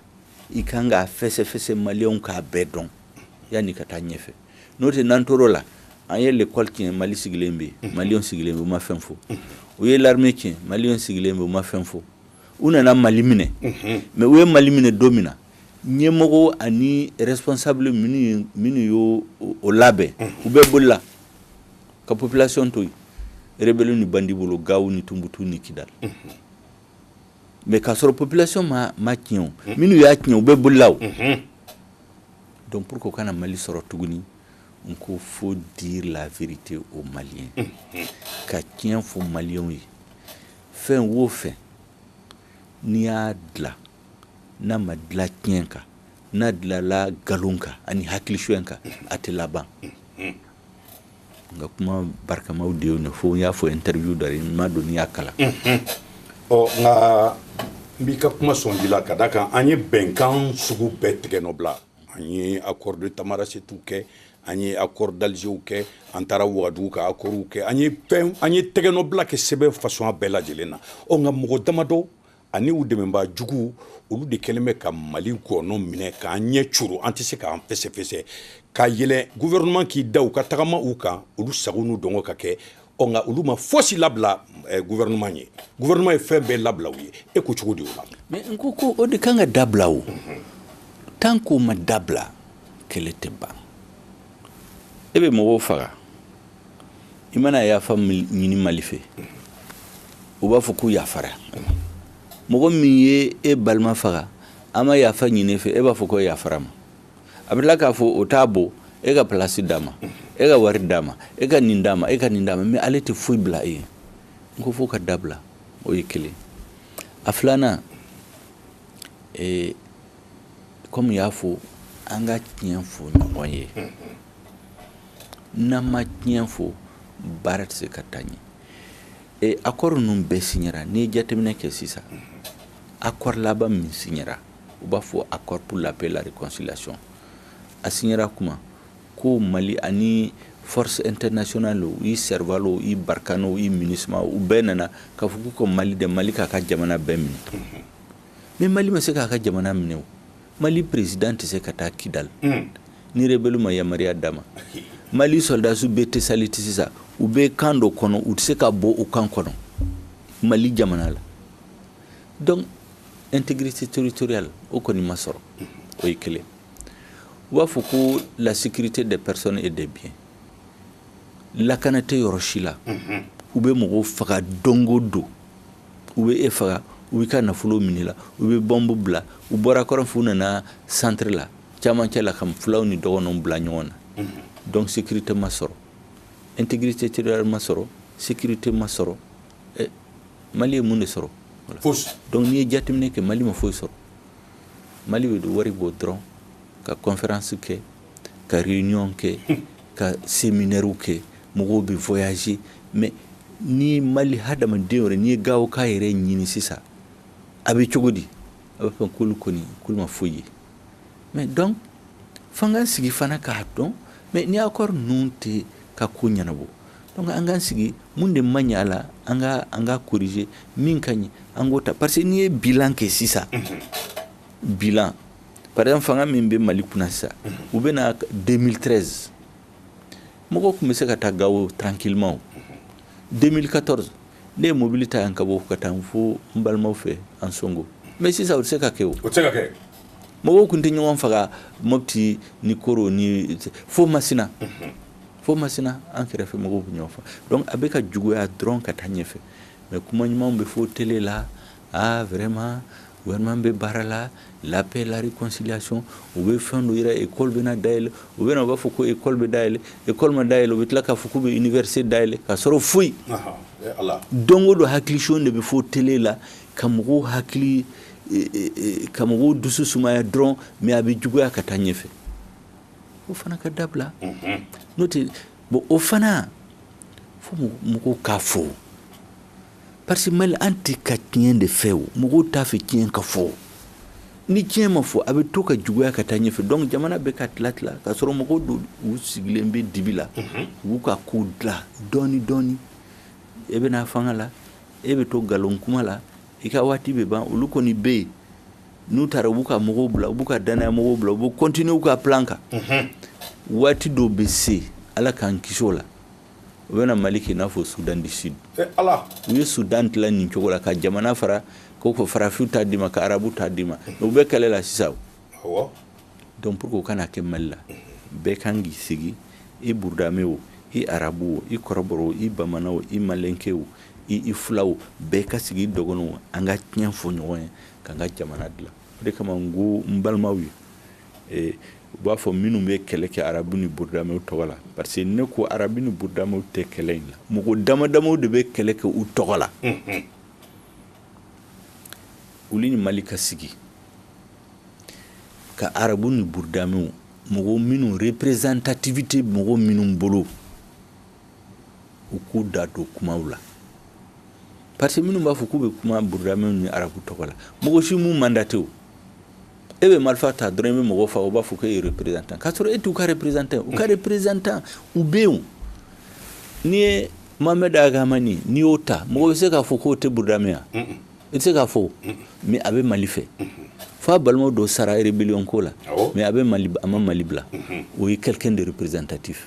i ka kan k'a fɛsɛfɛsɛ maliyɛnw k'a bɛɛ dɔn yan'i ka taa ɲɛfɛ n'o tɛ n'an tora o la an ye lekɔli tiɲɛ mali sigilen bɛ yen maliyɛnw sigilen bɛ u ma fɛn fɔ u ye l'armée tiɲɛ maliyɛnw sigilen bɛ u ma fɛn fɔ u nana mali minɛ mais u ye mali minɛ don min na ɲɛmɔgɔ ani responsable minnu ye o labɛn u bɛɛ bolila ka population to yen rebelle ni bandi bolo gawo ni tunbutu ni kidal mais k'a sɔrɔ population m'a tiɲɛ minnu y'a tiɲɛ u bɛɛ bolila donc pour que o kana mali sɔrɔ tuguni n ko faut dire la vérité aux maliens ka tiɲɛ fɔ maliens ye fɛn o fɛn n'i y'a dila n'a ma dilan tiɲɛ kan n'a dilanla nkalon kan ani hakili suɲɛ kan a tɛ laban nka kuma barikamaw de y'o fɔ n y'a fɔ interview dɔ la n m'a dɔn n'i y'a kalan ɔ nka n b'i ka kuma sɔn ji la ka da kan an ye bɛnkan sugu bɛɛ tɛgɛnɔ bila an ye accord de tamanrasset kɛ an ye accord d'alger kɛ an taara wagadugu ka accordw kɛ an ye an ye tɛgɛnɔbila kɛ sɛbɛn façon bɛɛ lajɛlen na ɔ nka mɔgɔ damadɔ ani u dɛmɛbaa juguw olu de kɛlen bɛ ka mali gɔnɔ minɛ k'an ɲɛ coron an tɛ se k'an fɛsɛfɛsɛ ka yɛlɛn gouvernement k'i da u ka tagama u kan olu sago n'u dungɔ ka kɛ ɔ nka olu ma fosi labila eh, gouvernement ye gouvernement ye fɛn bɛɛ labila u ye e ko cogo di o la mais n ko ko o de kan ka dabila o tant qu'o ma dabila kɛlɛ tɛ ban e bɛ mɔgɔw faga i mana yafa ɲini mali fɛ u b'a fɔ k'u yafara mɔgɔ min ye e balima faga a ma yafa ɲini i fɛ e b'a fɔ ko yafara a ma a bɛ tila k'a fɔ o t'a bɔ e ka place d'a ma e ka wari d'a ma e ka nin d'a ma e ka nin d'a ma mais ale tɛ foyi bila e ye n ko f'o ka dabila o ye kelen a filanan kɔmi y'a fɔ an ka tiɲɛ fɔ ɲɔgɔn ye n'an ma tiɲɛ fɔ baara tɛ se ka taa ɲɛ accord ninnu bɛɛ signera n'i ye jateminɛ kɛ sisan accord laban min signera u b'a fɔ accord pour la paix et la réconciliation a signera kuma ko mali ani force internationale i serval o i barkhane o i minusma u bɛɛ nana k'a fɔ k'u ka mali de mali k'a ka jamana bɛɛ minɛ Mais mali ma se k'a ka jamana minɛ o mali président tɛ se ka taa kidali ni rebelle ma yamaruya d'a ma mali sɔrɔdasiw bɛ tesaliti sisan u bɛ camp dɔ kɔnɔ u tɛ se ka bɔ u camp kɔnɔ mali jamana la donc intégrité territoriale o kɔni ma sɔrɔ o ye kelen u b'a fɔ ko la sécurité des personnes et des biens lakana tɛ yɔrɔ si la u bɛ mɔgɔw faga don o don u bɛ e faga u b'e ka nafolo minɛ i la u bɛ bɔnbu bila u bɔra kɔrɔn fɛ u nana centre la camancɛ la ka fulaw ni dɔgɔnɔw bila ɲɔgɔn na donc sécurité ma sɔrɔ intégrité territoriale ma sɔrɔ sécurité ma sɔrɔ mali ye mun de sɔrɔ donc n'i ye jateminɛ kɛ mali ma foyi sɔrɔ mali bɛ wari bɔ dɔrɔn ka kɔnfɛransi kɛ ka réunion kɛ ka séminaire kɛ mɔgɔw bɛ voyager mais ni mali hadamaden yɛrɛ n'i ye gawoka yɛrɛ ɲini sisan a bɛ cogo di a bɛ fɔ k'olu kɔni k'u ma foyi ye mais donc f'an k'an sigi fana k'a dɔn mais ni accord ninnu tɛ ka ko ɲɛnabɔ an k'an sigi mun de ma ɲɛ a la an ka an ka corriger min ka ɲi an k'o ta parce que n'i ye bilan kɛ sisan Bilan par exemple fanga min bɛ mali kunna sisan u bɛ na deux mille treize mɔgɔ tun bɛ se ka taa gawo tranquillement deux mille quatorze ne ye mobili ta yan ka bɔ ka taa fo n balimaw fɛ ansongo mais sisan o tɛ se ka kɛ o mɔgɔw tun tɛ ɲɔgɔn faga moti ni koro ni fo masina fo masina an kɛrɛfɛ mɔgɔw bɛ ɲɔgɔn faa a bɛ ka juguya dɔrɔn ka taa ɲɛfɛ mais kuma ɲuman bɛ fɔ télé la aa vraiment gouvernement bɛ baara la la paix la réconciliation u bɛ fɛn dɔ yira école bɛna dayɛlɛn u bɛ u b'a fɔ ko école bɛ dayɛlɛn école ma dayɛlɛ u bɛ tila k'a fɔ k'u bɛ université dayɛlɛn ka sɔrɔ foyi don o don hakilisigi de bɛ fɔ télé la ka mɔgɔw hakili ka mɔgɔw dusu sumaya dɔrɔn mais a bɛ juguya ka taa ɲɛfɛ o fana ka dabila n'o tɛ bon o fana fo mɔgɔw k'a fɔ Parce que mali an tɛ ka tiɲɛ de fɛ o mɔgɔw t'a fɛ tiɲɛ ka fɔ ni tiɲɛ ma fɔ a bɛ to ka juguya ka taa ɲɛfɛ donc jamana bɛ ka tila tila ka sɔrɔ mɔgɔw dɔw u sigilen bɛ dibi la u b'u ka ko dilan dɔɔnin dɔɔnin e bɛ na fanga la e bɛ to nkalon kuma la i ka waati bɛ ban olu kɔni bɛ yen n'u taara u b'u ka mɔgɔw bila u b'u ka dannaya mɔgɔw bila u bɛ continuer u ka plan kan waati dɔw bɛ se ala k'an kisi o la u bɛna mali k'i n'a fɔ sudan du sud ala u ye sudan tila nin cogo la ka jamana fara ko ko farafinw ta d'i ma ka arabu ta d'i ma u bɛ kɛlɛ la sisan donc pour que o kana kɛ mali la bɛɛ kan k'i sigi i burudamɛ o i arabu o i kɔrɔbɔrɔ o i bamana o i malenke o i i fulaw bɛɛ ka sigi i dɔgɔnɔw an ka tiɲɛ fɔ ɲɔgɔn ye k'an ka jamana dilan o de kama n ko n balimaw ye u b'a fɔ minnu bɛ kɛlɛ kɛ arabu ni burudamɛw tɔgɔ la parce que ne ko arabu ni burudamɛw tɛ kɛlɛ in la mɔgɔ damadamaw de bɛ kɛlɛ kɛ u tɔgɔ la u ni mali ka sigi ka arabu ni burudamɛw mɔgɔ minnu représentativité mɔgɔ minnu bolo u k'u da don kumaw la parce que minnu b'a fɔ k'u bɛ kuma burudamɛw ni arabu tɔgɔ la mɔgɔ si m'u mandaté o e bɛ marifa ta dɔrɔn i bɛ mɔgɔ fa u b'a fɔ k'e ye représentant k'a sɔrɔ e t'u ka représentant u ka représentant u bɛ yen n'i ye Mohamed Ag Hamani n'i y'o ta mɔgɔ bɛ se k'a fɔ k'o tɛ burudamɛ ya i tɛ se k'a fɔ mais a bɛ Mali fɛ f'a balimaw dɔ sara rébellion ko la mais a bɛ Mali a ma Mali bila o ye quelqu'un de représentatif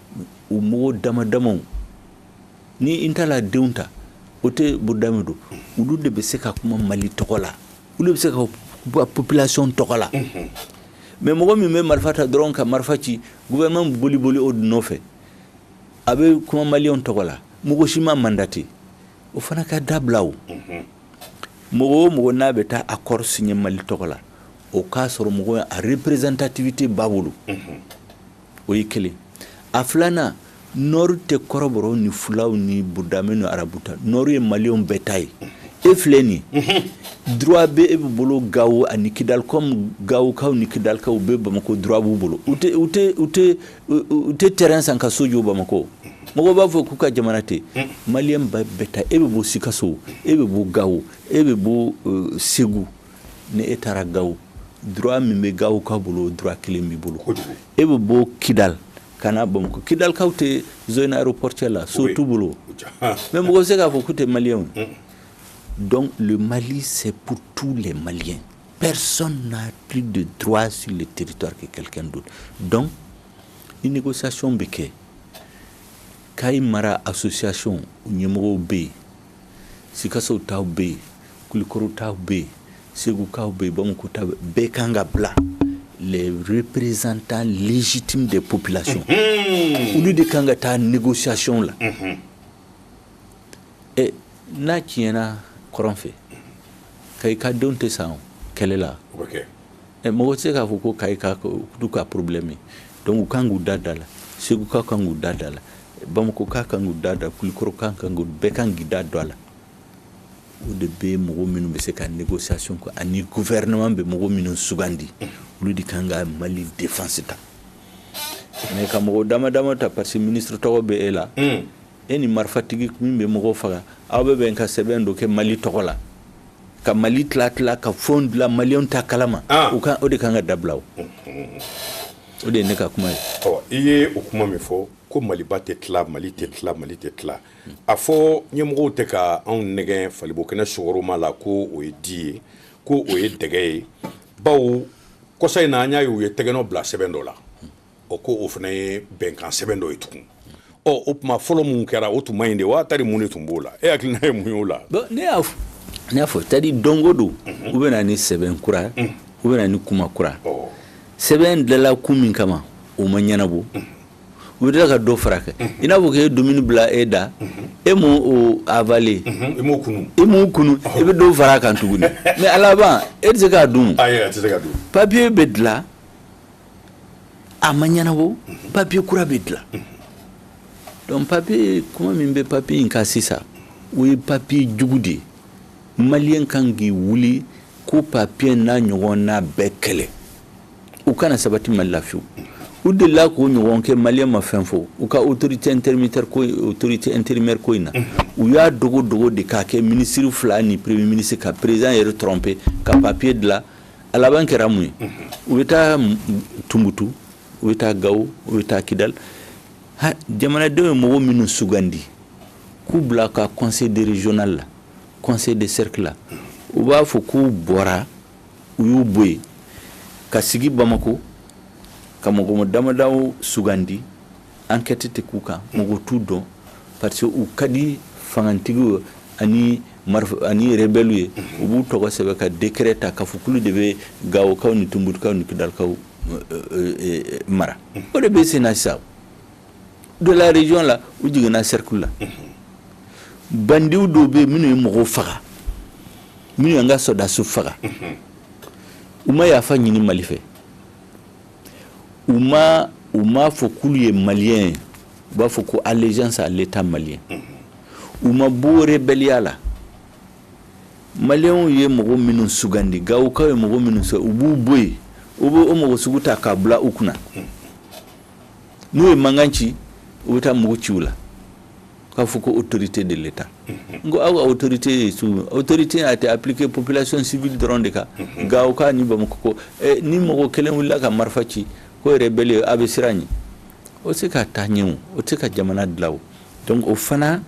u mɔgɔw dama damaw ni intala denw ta o tɛ burudamɛ don olu de bɛ se ka kuma mali tɔgɔ la olu bɛ se ka population tɔgɔ la mais mɔgɔ min bɛ marifa ta dɔrɔn ka marifa ci gouvernement boli boli o dun nɔfɛ a bɛ kuma mali tɔgɔ la mɔgɔ si m'a mandaté o fana ka dabila o mɔgɔ o mɔgɔ n'a bɛ taa accord signé mali tɔgɔ la o k'a sɔrɔ mɔgɔ a représentativité b'a bolo o ye kelen a filanan nord tɛ kɔrɔbɔrɔw ni fulaw ni burudamɛ ni arabu ta nord ye mali bɛɛ ta ye e filɛ nin droit bɛ e bɛ bolo gawo ani kidali gawokaw ni kidalikaw u bɛ bamakɔ droit b'u bolo u tɛ terrain san ka so jɔ bamakɔ mɔgɔ b'a fɔ k'u ka jamana tɛ maliyɛn bɛɛ ta e bɛ bɔ sikaso e bɛ bɔ gawo e bɛ bɔ segu ni e taara gawo du min bɛ gawo ka bolo du kelen b'i bolo e bɛ bɔ kida ka n'a bamakɔ kidalikaw tɛ zre pte la so tu bolo mɛ mɔgɔ se k'a fɔ ku tɛ maliy dɔn mali se tu la mali pɛresa n'a p de du su de teriritɔ kɛ kɛlɛkɛ don dɔn i ni ko sayon bɛ kɛ k'a ye mara a sosoyayw ɲɛmɔgɔ bɛ yen sikaso taw bɛ yen kulukɔrɔ taw bɛ yen segukaw bɛ yen bamakɔ taw bɛɛ kan ka bila les représentants légitimes des populations olu de kan ka taa négociation la ɛ n'a tiɲɛna kɔrɔn fɛ kayi ka denw tɛ sa kɛlɛ la Ɛ mɔgɔ tɛ se k'a fɔ ko Kayi ka ko du ka problème ye donc u kan k'u da don a la Segukaw kan k'u da don a la Bamakokaw kan k'u da don a Kulikɔrɔkaw kan k'u bɛɛ kan k'i da don a la o de bɛ mɔgɔ minnu bɛ se ka négociation kɛ ani gouvernement bɛ mɔgɔ minnu sugandi olu de kan ka Mali défense ta mais ka mɔgɔ dama dama ta parce que ministre tɔgɔ bɛ e la e ni marifatigi min bɛ mɔgɔw faga aw bɛ bɛn ka sɛbɛn dɔ kɛ mali tɔgɔ la ka mali tila tila ka fɛnw dilan maliyɛnw t'a kalama ah. u ka o de kan ka dabila o o de ye ne ka kuma ye i ye o kuma min fɔ ko maliba tɛ tila mali tɛ tila mali tɛ tila a fɔ ɲɛmɔgɔw tɛ ka anw nɛgɛn fali bo kɛnɛ sukaroma la ko o ye di ye ko o ye dɛgɛ ye bawo kɔsa in na an y'a ye u ye tɛgɛnɔ bila sɛbɛn dɔ la o ko o fana ye bɛnkan sɛbɛn dɔ ye tugun ɔ o tuma fɔlɔ min kɛra o tun ma ɲi de wa tari mun de tun b'o la e hakilina ye mun y'o la ne y'a n y'a fɔ c'est-à-dire don o don u bɛ na ni sɛbɛn kura u bɛ na ni kuma kura sɛbɛn dilanla kun min kama o ma ɲɛnabɔ u bɛ tila ka dɔ fara a kan i n'a fɔ k'e ye dumuni bila e da e m'o avaler i m'o kunu i bɛ dɔ fara a kan tuguni mais a laban e tɛ se k'a dun papiye bɛ dilan a ma ɲɛnabɔ papier kura bɛ dilan donc papier kuma min bɛ papier in kan sisan o ye papier jugu de ye maliyɛn kan k'i wuli ko papier n'a ɲɔgɔnna bɛɛ kɛlɛ u kana sabati mali la fiyewu u delila k'o ɲɔgɔn kɛ maliyɛn ma fɛn fɔ u ka autorité intermédiaire ko autorité intérimaire ko in na u y'a dogo dogo de k'a kɛ minisiri fila ni premier ministre ka président yɛrɛ tromper ka papier dilan a laban kɛra mun ye u bɛ taa tunbutu u bɛ taa gawo u bɛ taa kidali jamanadenw ye mɔgɔ minnu sugandi k'u bila ka conseil de régional la conseil de cercle la u b'a fɔ k'u bɔra u y'u bɔ yen ka sigi bamakɔ ka mɔgɔ damadaw sugandi enquête tɛ k'u kan mɔgɔ t'u dɔn parce que u ka di fangatigi ani rebelle ye u b'u tɔgɔ sɛbɛn ka décret ta k'a fɔ k'olu de bɛ gawokaw ni tunbutukaw ni kidalikaw mara o de bɛ sen na sisan de la région la u jiginna cercle la bandiw dɔw bɛ yen minnu ye mɔgɔw faga minnu y'an ka sɔrɔdasiw faga u ma yafa ɲini mali fɛ u ma u m'a fɔ k'olu ye maliyɛn ye u b'a fɔ ko allégeance à l'État malien u ma bɔ rébellion la maliyɛnw ye mɔgɔ minnu sugandi gawokaw ye mɔgɔ minnu sugandi u b'u bɔ yen u bɛ o mɔgɔ sugu ta k'a bila u kunna n'u ye mankan ci u bɛ taa mugu ci u la k'a fɔ ko autorité de l'État n ko aw ka autorité ye sugu autorité a été appliquée population civile dɔrɔn de kan Gawokaw ni Bamakɔ ko eh, ni mɔgɔ kelen wulila ka marifa ci ko rebelle a bɛ siran ɲɛ o tɛ se ka taa ɲɛ o o tɛ se ka jamana dilan o donc o fana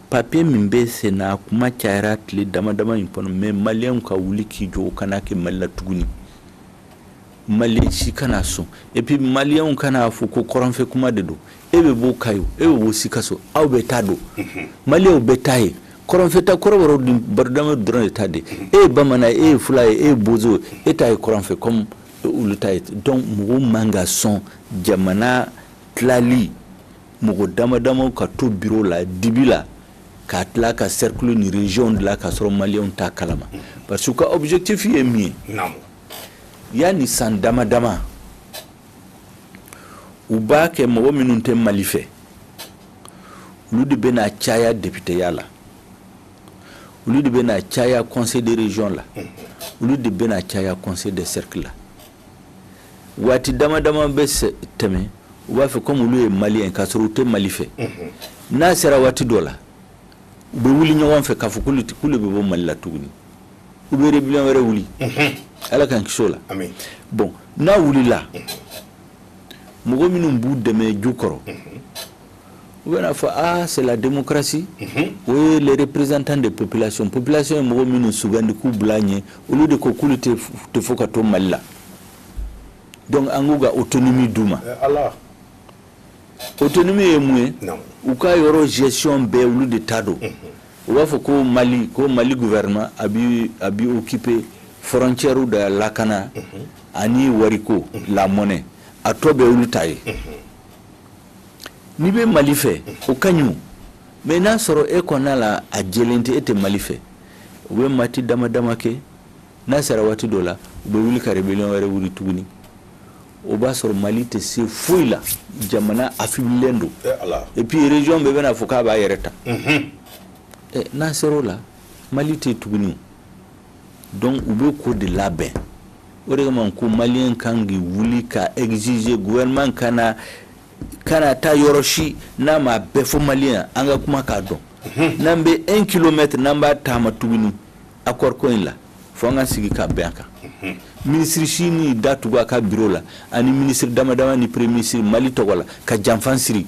papier min bɛ sen na a kuma cayara tile dama dama in kɔnɔ mais maliyɛnw ka wuli k'i jɔ o kana kɛ mali la tuguni Maliyɛn si kana sɔn et puis maliyɛn kana a fɔ ko kɔrɔnfɛ kuma de don e bɛ bɔ Kayi e bɛ bɔ Sikaso aw bɛɛ ta don maliyɛnw bɛɛ ta ye kɔrɔnfɛta kɔrɔbɔrɔ ni burudamɛ dɔrɔn de ta tɛ e ye bamanan e ye fula ye e ye bozo e ta ye kɔrɔnfɛ kɔmi olu ta donc mɔgɔw man kan ka sɔn jamana tilali mɔgɔ dama dama ka to bureau la dibi la k'a tila ka cercle ni région dilan ka sɔrɔ maliyɛnw t'a kalama parce que u ka objectif ye min ye Yanni san dama dama u b'a kɛ mɔgɔ minnu tɛ mali fɛ olu de bɛna caya députéya la olu de bɛna caya conseil de région la olu de bɛna caya conseil de cercle la waati dama dama bɛ tɛmɛ u b'a fɛ comme olu ye maliyɛn ka sɔrɔ u tɛ mali fɛ n'a sera waati dɔ la u bɛ wuli ɲɔgɔn fɛ k'a fɔ k'olu de bɛ bɔ mali la tuguni u bɛ rébellion wɛrɛ wuli ala k'an kisi o la bon n'a wulila mɔgɔ minnu b'u dɛmɛ jukɔrɔ u bɛn'a fɔ aa c'est la démocratie o ye les représentants des populations population ye mɔgɔ minnu sugandi k'u bila ɲɛ olu de ko k'olu tɛ fɔ ka to mali la donc an k'u ka autonomie d'u ma autonomie ye mun ye u ka yɔrɔ gestion bɛɛ olu de ta don u b'a fɔ ko mali ko mali gouvernement a bi a bi occuper frontières da lakana mhm. ani wariko mhm. la monnaie a tɔ bɛ olu ta ye mhm. n'i bɛ mali fɛ o ka ɲi mais n'a sɔrɔ e kɔnɔna la a jɛlen tɛ e tɛ mali fɛ u bɛ waati dama dama kɛ n'a sera waati dɔ la u bɛ wuli ka rébellion wɛrɛ wuli tuguni o b'a sɔrɔ mali tɛ se foyi la jamana affaiblilen don et puis région bɛɛ bɛn'a fɔ k'a b'a yɛrɛ ta n'an sera o la mali tɛ tuguni donc u bɛ k'o de labɛn o de kama ko maliyɛn kan k'i wuli ka exiger gouvernement kana taa yɔrɔ si n'a ma bɛɛ fɔ maliyɛn an ka kuma k'a dɔn n'an bɛ un kilomètre n'an b'a taama tuguni accord ko in la fo an ka sigi ka bɛn a kan minisiri si ni da tugu a ka biro la ani minisiri damadama ni premier minisiri mali tɔgɔ la ka janfan siri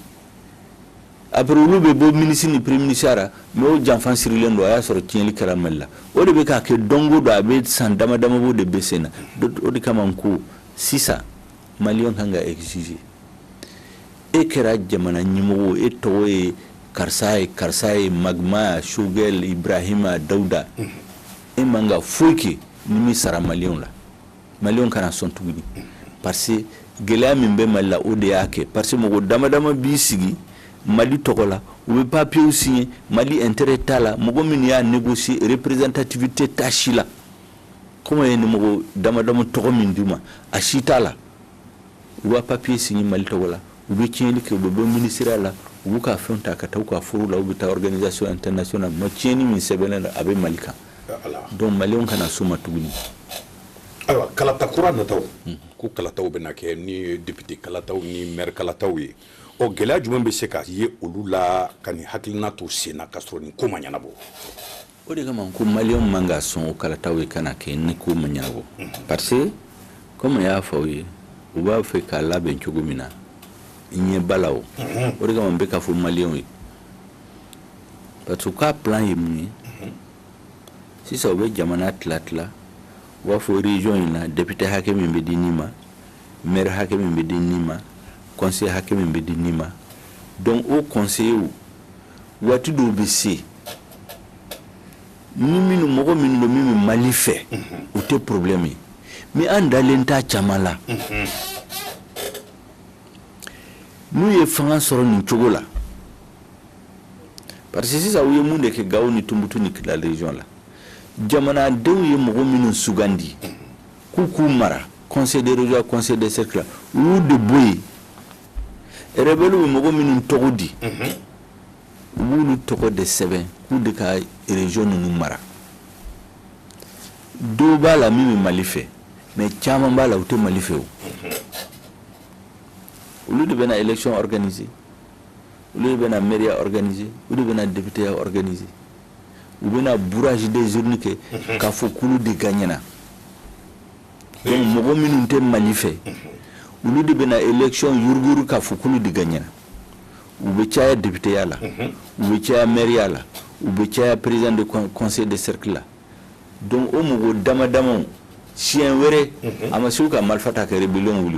après olu bɛ bɔ minisiri ni premier minisiriya ra mais o janfan sirilen don a y'a sɔrɔ tiɲɛli kɛra mali la o de bɛ ka kɛ don go don a bɛ san damadama bɔ o de bɛ sen na o de kama ko sisan maliyɛn kan ka exiger e kɛra jamana ɲɛmɔgɔ e tɔgɔ ye karisa ye karisa ye maïga choguel barahima dawuda e man ka foyi kɛ n'i m'i sara maliyɛnw la maliyɛnw kana sɔn tugun parce que gɛlɛya min bɛ mali la o de y'a kɛ parce que mɔgɔ dama dama b'i sigi mali tɔgɔ la u bɛ papiyew signer mali intérêt t'a la mɔgɔ min y'a négocier représentativité t'a si la kɔmi ye nin mɔgɔ damadama mais tɔgɔ min d'u ma a si t'a la u b'a papiye signer mali tɔgɔ la u bɛ tiɲɛni kɛ u bɛ bɔ minisiriya la u b'u ka fɛn ta ka taa u ka foro la u bɛ taa organisation internationale ma tiɲɛni min sɛbɛnnen don a bɛ mali kan donc maliyɛnw kana s'o ma tuguni ayiwa kalata kura nataw ko kalataw bɛna kɛ ni député kalataw ni maire kalataw ye ɔ gɛlɛya jumɛn bɛ se ka ye olu la ka nin hakilina to sen na ka sɔrɔ nin ko ma ɲɛnabɔ o de kama ko maliyɛnw man ka sɔn o kalata ye kana kɛ ni ko ma ɲɛnabɔ parce que komi n y'a fɔ aw ye u b'a fɛ k'a labɛn cogo min na ɲɛ b'a la o o de kama n bɛ k'a fɔ maliyɛnw ye parce que u ka plan ye mun ye sisan u bɛ jamana tila tila u b'a fɔ région in na député hakɛ min bɛ di nin ma maire hakɛ min bɛ di nin ma conseiller hakɛ min bɛ di nin ma donc o conseiller waati dɔw bɛ se ni minnu mɔgɔ minnu don min bɛ mali fɛ u tɛ problème ye mais an dalen t'a caman la n'u ye fanga sɔrɔ nin cogo la parce que sisan u ye mun de kɛ gawo ni tumutu ni kidal region la jamanadenw ye mɔgɔ minnu sugandi k'u k'u mara conseil de région conseil de cercle u y'u de bɔ yen rebelle bɛ mɔgɔ minnu tɔgɔ di u b'olu tɔgɔ de sɛbɛn k'u de ka région ninnu mara dɔw b'a la min bɛ Mali fɛ mais caman b'a la u tɛ Mali fɛ o olu de bɛna élection organiser olu de bɛna maireya organiser olu de bɛna députéya organiser u bɛna bourrage des urnes kɛ k'a fɔ k'olu de gagnera donc mɔgɔ minnu tɛ mali fɛ olu de bɛna élection yuruguyurugu k'a fɔ k'olu de gagnera u bɛ caya députéya la u bɛ caya mairie la u bɛ caya président de conseil de cercle la donc o mɔgɔ dama damaw siɲɛ wɛrɛ a ma se u ka marifa ta ka rébellion wuli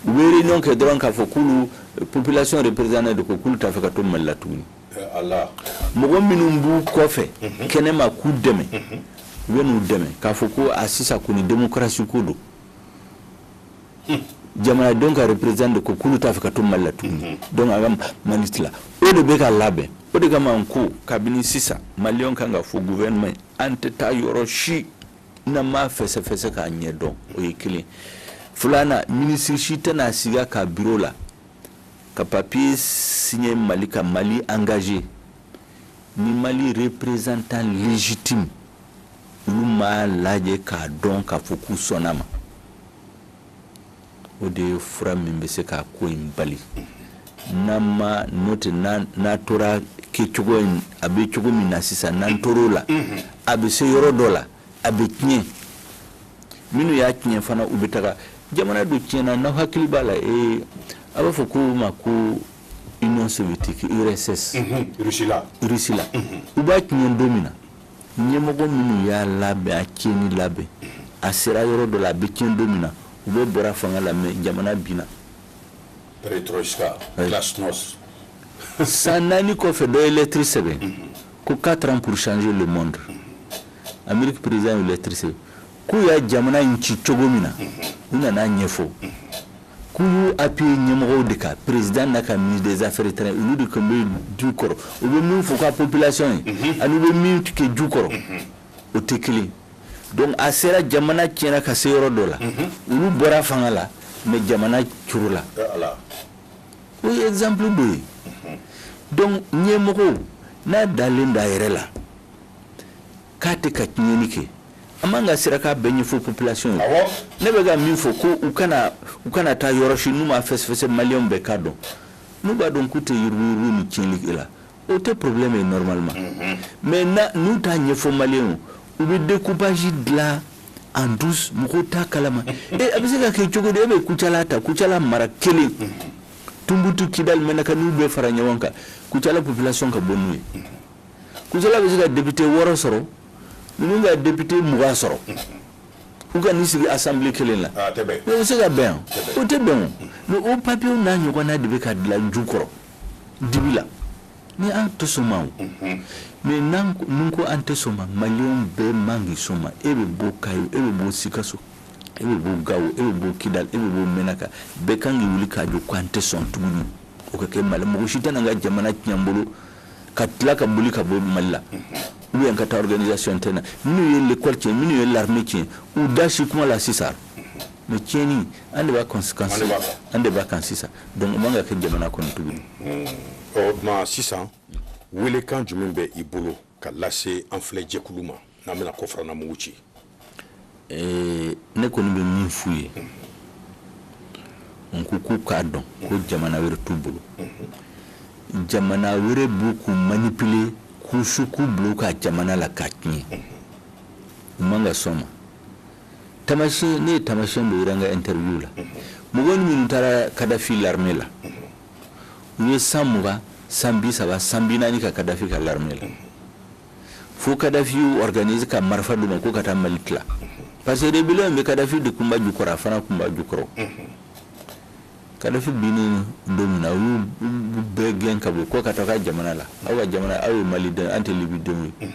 u bɛ réunion kɛ dɔrɔn k'a fɔ k'olu population représentant de ko k'olu t'a fɛ ka to mali la tuguni mɔgɔ minnu b'u kɔfɛ mhm. kɛnɛma k'u dɛmɛ mhm. u bɛ n'u dɛmɛ k'a fɔ ko a sisan kɔni demokarasi ko don hmm. jamanadenw ka représentant de ko k'olu t'a fɛ ka to mali la tuguni mhm. donc a ka mali tila o de bɛ ka labɛn o de kama n ko kabini sisan maliyɛnw kan ka fɔ gouvernement an tɛ taa yɔrɔ si n'an m'a fɛsɛfɛsɛ k'a ɲɛ dɔn o ye kelen filanan minisiri si tɛna sigi a ka biro la ka papier signer Mali ka Mali engager ni Mali représentant légitime olu m'a lajɛ k'a dɔn k'a fɔ k'u sɔnn'a ma o de ye fura min bɛ se ka ko in bali n'an ma n'o tɛ n'a tora kɛcogo in a bɛ cogo min na sisan n'an tor'o la a bɛ se yɔrɔ dɔ la a bɛ tiɲɛ minnu y'a tiɲɛ fana u bɛ taga jamana dɔ tiɲɛna n'aw hakili b'a la ee a b'a fɔ ko ma ko union soviétique urss mhm, Russie la Russie la mhm. u b'a tiɲɛ don min na ɲɛmɔgɔ minnu y'a labɛn a tiɲɛni labɛn a sera yɔrɔ dɔ la a bɛ tiɲɛ don min na u bɛɛ bɔra fanga la mais jamana binna perestroïka glasnost san naani kɔfɛ dɔ ye lɛtiri sɛbɛn ko quatre ans pour changer le monde Amérique président ye lɛtiri sɛbɛn k'u ye jamana in ci cogo min na u nan'a ɲɛfɔ k'u y'u appuyer ɲɛmɔgɔw de kan président n'a ka ministre des affaires étrangères olu de tun bɛ ju kɔrɔ u bɛ min f'u ka population ye mhm. ani u bɛ min kɛ ju kɔrɔ mhm. o tɛ kelen donc a sera jamana tiɲɛna ka se yɔrɔ dɔ la mhm. olu bɔra fanga la mais jamana curula o ye exemple dɔ ye donc ɲɛmɔgɔ n'a dalen d'a yɛrɛ la k'a tɛ ka tiɲɛni kɛ a man ka siran k'a bɛɛ ɲɛfɔ population ye awɔ ne bɛ ka min fɔ ko u kana u kana taa yɔrɔ si n'u m'a fɛsɛfɛsɛ maliyɛnw bɛɛ k'a dɔn n'u b'a dɔn k'u tɛ yuruguyurugu ni tiɲɛni kɛ la o tɛ problème ye normalement mhm. mais na n'u t'a ɲɛfɔ maliyɛnw u bɛ découpage dilan en douce mɔgɔw t'a kalama e a bɛ se ka kɛ cogo di e bɛ kucala ta kucala mara kelen mhm. Tumbutu Kidali Mɛnaka n'u bɛɛ fara ɲɔgɔn kan Kucala population ka bon n'u ye kucala bɛ se ka député wɔɔrɔ sɔrɔ ninnu ka député mugan sɔrɔ u ka n'i sigi assemblée kelen la ah, mais o bɛ se ka bɛn o tɛ bɛn o mais o papier n'a ɲɔgɔnna de bɛ ka dilan ju kɔrɔ dibi la ni an tɛ sɔn ma o mhm. mais n'an ko an tɛ sɔn ma maliyɛnw bɛɛ man k'i sɔn ma e bɛ bɔ kayo e bɛ bɔ sikaso e bɛ bɔ gawo e bɛ bɔ kidali e bɛ bɔ mɛnaka bɛɛ kan k'i wuli k'i jɔ ko an tɛ sɔn tuguni o ka kɛ mali mɔgɔ si tɛna n ka jamana tiɲɛ n bolo ka tila ka boli ka bɔ mali la ou bien ka taa organisation tɛ na minnu ye l'école tiɲɛ minnu ye l'armée tiɲɛ u da si kuma la sisan mais tiɲɛni an de b'a conséquence an de b'a kan sisan donc o man ka kɛ jamana kɔnɔ tuguni o tuma sisan welekan jumɛn bɛ i bolo ka lase an filɛ jɛkulu ma n'an bɛna kɔfɛrana mugu ci ee ne kɔni bɛ min f'u ye n ko k'u k'a dɔn ko jamana wɛrɛ t'u bolo jamana wɛrɛ bɛ k'u manipuler k'u su k'u bila u ka jamana la k'a tiɲɛ u man ka sɔn ma tamasiyɛn ne ye tamasiyɛn dɔ yira n ka interview la mɔgɔ ni minnu taara kadafi l'armée la u ye san mugan san bi saba san bi naani kɛ kadafi ka l'armée la fo kadafiw organise ka marifa d'u ma k'u ka taa mali tila parce que rebellion bɛɛ kadafi de kun b'a jukɔrɔ a fana kun b'a jukɔrɔ kadafi binni don min na u y'u bɛɛ gɛn ka bɔ k'aw ka taa aw ka jamana la aw ka jamana aw ye mali den an tɛ libi denw ye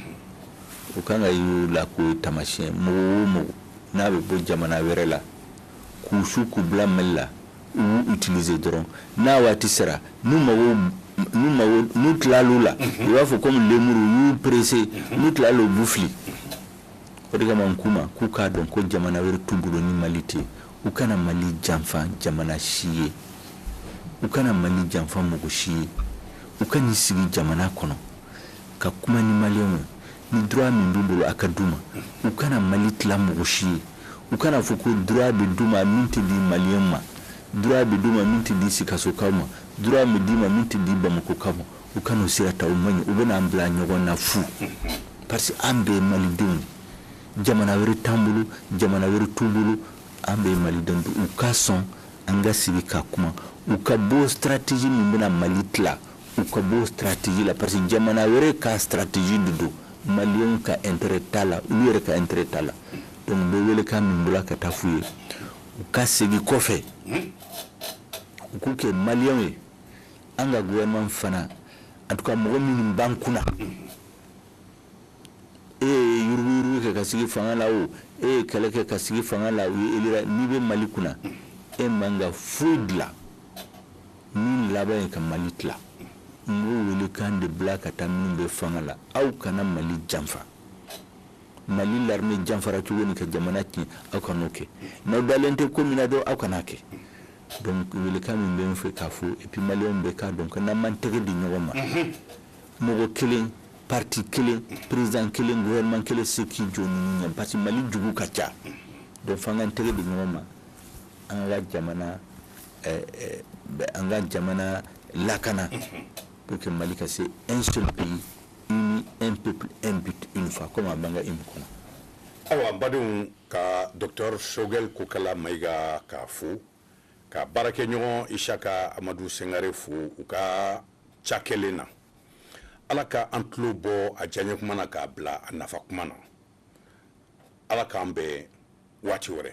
u kan ka y'u la k'o ye taamasiyɛn mɔgɔ o mɔgɔ n'a bɛ bɔ jamana wɛrɛ la k'u su k'u bila mali la u utiliser dɔrɔn n'a waati sera n'u mago n'u mago n'u tilal'u la mhm. i b'a fɔ komi lemuru u y'u presse mhm. n'u tilala u b'u fili o de kama n k'u ma k'u k'a dɔn ko jamana wɛrɛ t'u bolo ni mali tɛ u kana mali janfa jamana si ye u kana mali janfa mɔgɔ si ye u ka n'i sigi jamana kɔnɔ ka kuma ni maliyɛnw ye ni droit min b'u bolo a ka d'u ma u kana mali tila mɔgɔ si ye u kana fɔ ko droit bɛ d'u ma min tɛ di maliyɛn ma droit bɛ d'u ma min tɛ di sikasokaw ma droit bɛ d'u ma min tɛ di bamakɔkaw ma u kan'o sira ta o man ɲi o bɛna an bila ɲɔgɔn na fu parce que an bɛɛ malidenw jamana wɛrɛ t'an bolo jamana wɛrɛ t'u bolo an bɛɛ malidenw u ka sɔn an ka sigi ka kuma u ka bɔ stratégie min bɛna mali tila U ka bɔ stratégie la parce que jamana wɛrɛ ka stratégie de don maliyɛn ka intérêt t'a la u yɛrɛ ka intérêt t'a la donc n bɛ welekan bila ka taa fɔ u ye u ka segin kɔfɛ u k'u kɛ maliyɛn ye an ka gouvernement fana en tout cas mɔgɔ minnu b'an kunna e ye yurugu kɛ ka sigi fanga la o e ye kɛlɛ kɛ ka sigi fanga la u ye e élire n'i bɛ mali kunna e man kan ka foyi dilan min laban ka mali tila n b'o welekan de bila ka taa minnu bɛ fanga la aw kana mali janfa mali larime janfara cogo min ka jamana tiɲɛ aw kan'o kɛ n'aw dalen tɛ ko min na dɔn aw kan'a kɛ donc welekan min bɛ n fɛ k'a fɔ et puis maliyɛnw bɛɛ k'a dɔn ko n'an m'an tɛgɛ di ɲɔgɔn ma mɔgɔ kelen parti kelen président kelen gouvernement kelen tɛ se k'i jɔ ninnu ɲɛ parce que mali jugu ka ca donc f'an k'an tɛgɛ di ɲɔgɔn ma an ka jamana an ka jamana lakana pour que mali ka se un seul pays uni un peuple un but une foi comme a b'an ka hymne kɔnɔ awa badenw ka docteur sogɛl kokala mayiga k'a fo ka baarakɛɲɔgɔn isaka amadu sengare fo u ka cakɛlen na ala ka an tulo bɔ a diyaɲɛ kuma na k'a bila a nafa kuma na ala k'an bɛn waati wɛrɛ